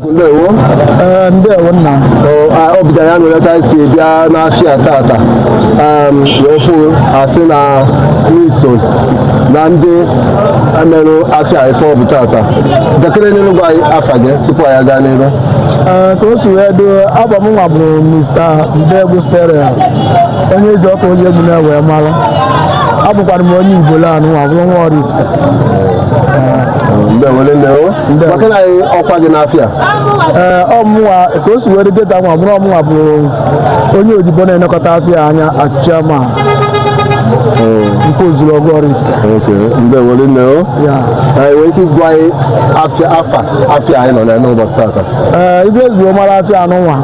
ndewo eh, ndewo nna ọ bụja ya nwere ka si bịa n'afịa tata ofu asị na n'iso na ndị merụ afịa ife ọ bụ tata dakịrị n'enu gwa anyị afa gị tupu anyị aga n'iru eh, ka o si wee do abụ m nwa bụ mr ndegbu cyril onye ezi ọkụ onye egwu na-ewe mara abụkwara m onye ibolo anụnwa bụrụ nwa Ọraifite eh, ndewo ndewo gwakene anyị ọkwa gị n'afịa ee ọ mụnwa ka o si were dị kịta nwa bụ na ọ mụnwa bụ onye odibo na-elekọta afịa anya as chairman nkwọ ozuluogu Ọraifite oke ndewo rinne o ya ị nwere ike ịgwa anyị afịa afa afịa anyị nọ na n'ụbọchị tata ee ife e ji wee mara afịa anụnwa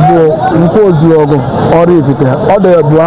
bụ nkwọ ozuluogu Ọraifite ọ dị abụọ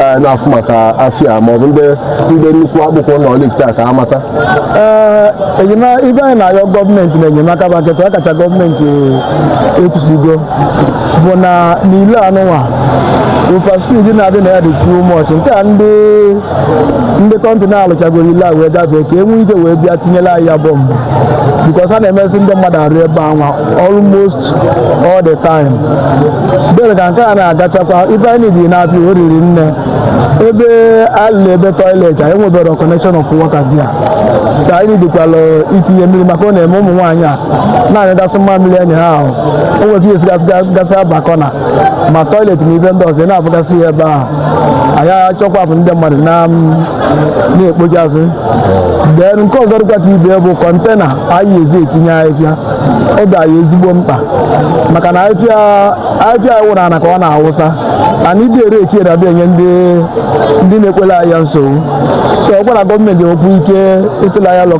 eh, na-afụ maka afịa ma ọ bụ ndị ndị nnukwu akpọku na Ọraifite ka amata eh, enyemaka ife anyị na-ayọ gọọmenti na enyemaka bụ kịta ọkacha gọọmenti ekwusigo bụ na n'ilo anụnwa overspeed na-adị na ya dị too much nke a ndị ndị kọntị na-alụchagoro ilo a wee gafee ka e nwee ike wee bịa tinyere anyị ya bump because a na-emesi ndị mmadụ arụ ebe anwa almost all the time bere ka nke a na-agachakwa ife anyị dị n'afọ o riri nne ebe alụrụ ebe toilet anyị enwebero connection of water there ka anyị dịkwala itinye mmiri maka ọ na-eme ụmụ nwaanyị a na-anyụgasị mmamịrị enyi ha ahụ o nwere ike isigasị gasị abakọna ma toilet ma ife ndị ọzọ ị na-abụgasị ya ebe ahụ anyị achọkwapụ ndị mmadụ na na-ekpochasị then nke ọzọ dịkwata ibe bụ kọntena anyị ji etinye ahịhịa ọ dị anyị ezigbo mkpa maka na afịfịa anyị wụrụ ana ka ọ na-awụsa ana ịdị ere eke na abịa enye ndị ndị na-ekporo anyị ya nsogbu so ọ bụrụ na gọọmenti nwekwuo ike ịtụla ya lọ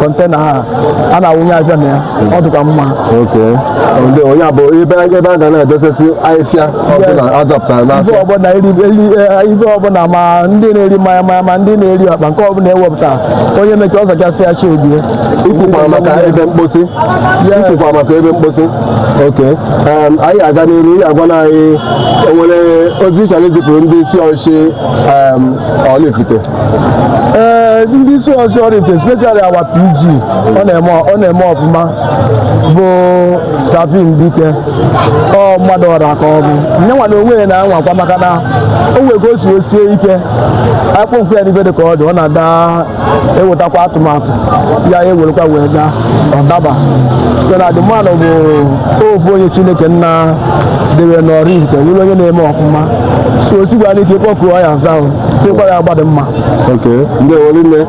kọntena ha a na-awụnye afịfịa na ya ọ dịkwa mma oke ndị onye a bụ ebe ebe a ga na-edosesi ahịfịa ọbụla azapụtara ife n'afịa ọbụla eri eri eh, ife ọbụla ma ndị na-eri mmanya mmanya ma ndị na-eri ọkpa nke ọbụla ewepụta onye mechaa ọ zachasị ya chedie ikwukwara maka ebe mkposi ikwukwara maka ebe mkposi oke um, anyị aga n'iru ị ya-agwa anyị o nwere ozi ị chọrọ izipụrụ ndị isi ọchịchị um, Ọraifite ee ndị isi ọchịchị Ọraifite especially our PG ọ na-eme ọ na-eme ọfụma bụ Sir Vin Dike ọ mmadụ ọra ka ọ bụ ya nwa na onwe ya na-anwakwa maka na o nwere ka o si osie ike akpọkuo ya n'ife dị ka ọ dị ọ na-ada ewetakwa atụmatụ ya ewerekwa wee gaa ọ daba so na the man nụ bụ ofu onye chineke nna debe na Ọraifite bụrụ onye na-eme ọfụma so o sikwa anyị ike kpọkuo ya aza tikwa ya agbadị mma ndewo rinne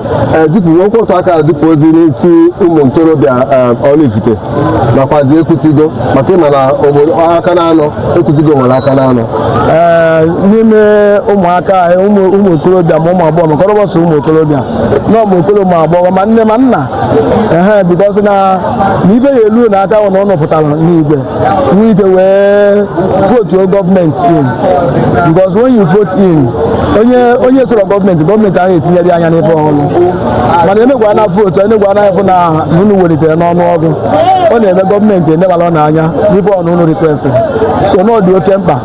zipụkwuo otu aka zipụ ozi n'isi ụmụ ntorobịa Ọraifite nakwazi ekwusigo maka ịma na obodo aka na anọ ekwusigo nwere aka na anọ ee n'ime ụmụaka anyị ụmụ ụmụ okorobịa ma ụmụ agbọghọ maka ọ bụrọ sọ ụmụ okorobịa na ụmụ okoro ma agbọghọ ma nne ma nna ehe because na na ife ya-elu na aka ahụ na ụnụ pụtara n'igwe nwee ike wee votuo gọọmenti in because when you vote in onye onye soro gọọmenti gọọmenti ahụ etinyere ya anya n'ife ọhụrụ mana enegwu anya na vootu enegwu anya afụ na unu welitere n'ọnụ ọgụ ọ na-eme gọọmenti enebala n'anya n'ife unu request so na ọ dị oke mkpa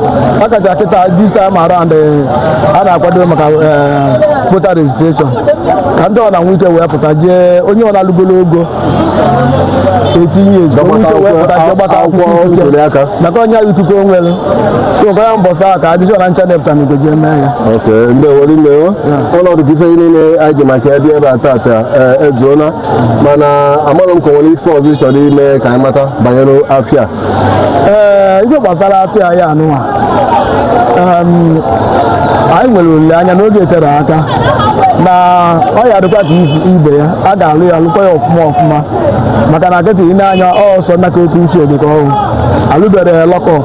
a kacha kịta this time around eh, a na-akwado maka eh, voter registration ka ndị ọ na nwee ike wee pụta jee onye ọbụna lugolo ogo eighteen years gbata akwụkwọ ntuli aka maka onye ahụ ikuku onwere so ka ya mbọsị ahụ ka adịjọ na ncha depụta n'igwe je mee ya ok ndewo rinne ọ na-adị ka ife niile anyị ji maka ya bịa ebe a tata ezuola mana amaghị m ka e nwere ife ọzọ ị chọrọ ime ka anyị mata banyere afịa ee ife gbasara afịa ya anụwa em, anyị nwere olileanya n'oge tere aka na ọ ya dịkwa ka ifu- ibe ya a ga-alụ ya lụkwa ya ọfụma ọfụma maka na nkịtị ile anya ọsọ naka oke uche dị ka ọhụụ alụbere ya lọkọ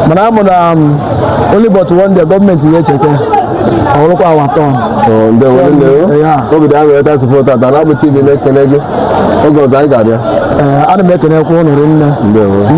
mana a ma na um, only but one day gọọmenti ya-echete o rukwa our turn ndewo ndewo Ya. obi dị aṅụrị ịta sụpụ tata na abụ tv na-ekele gị oge ọzọ anyị ga-abịa Ee, ana m ekenekwa ụnụ rinne ndewo